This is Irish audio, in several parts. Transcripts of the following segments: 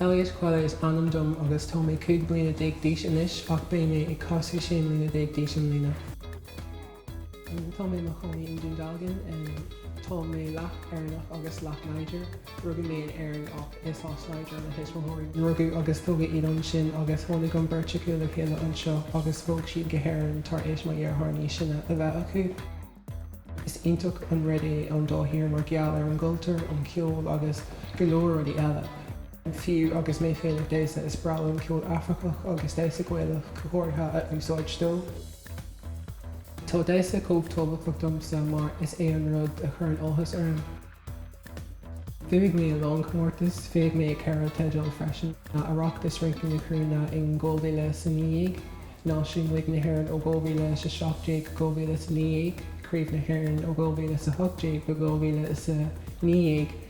Elliot Quelle is ainm dom agus tá mé cúig bliana déag d'aois anois ach beidh mé ag casadh sé bliana déag d'aois i mbliana. Tá mé i mo chónaí i nDún Dealgan. Tá mé leath Éireannach agus leath Nigéarach. Rugadh mé in Éirinn ach is as Niger mo thuismitheoirí. Rugadh agus tógadh iad ansin agus tháinig an bheirt acu le chéile anseo agus bhog siad go hÉirinn tar éis mo dheartháir níos sine a bheith acu. Is iontach an rud é an dá thír mar gheall ar an gcultúr, an ceol agus go leor rudaí eile. Fiú agus mé féin ag damhsa, is breá liom ceol Afracach agus damhsa Gaelach go háirithe a úsáid dó. Tá damhsa chomh tábhachtach domsa mar is é an rud a chuireann áthas orm. Bhuaigh mé a lán comórtas, bhuaigh mé ceithre teideal freisin, Oireachtas Rince na Cruinne in 2019, Náisiún Rince na hÉireann ó 2017 go 2019, Craobh na hÉireann ó 2018 go 2019,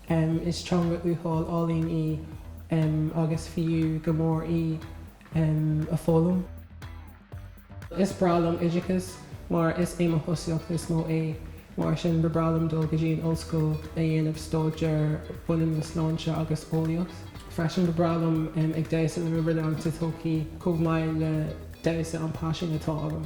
em. is teanga uathúil álainn í, em, agus fiú go mór í, em, a foghlaim. Is breá liom oideachas mar is é mo thosaíocht is mó é, mar sin ba breá liom dul go dtí an ollscoil a dhéanamh staidéar a bhaineann le sláinte agus eolaíocht. Freisin ba breá liom, em, ag damhsa le Riverdance sa todhchaí chomh maith le damhsa an paisean atá agam.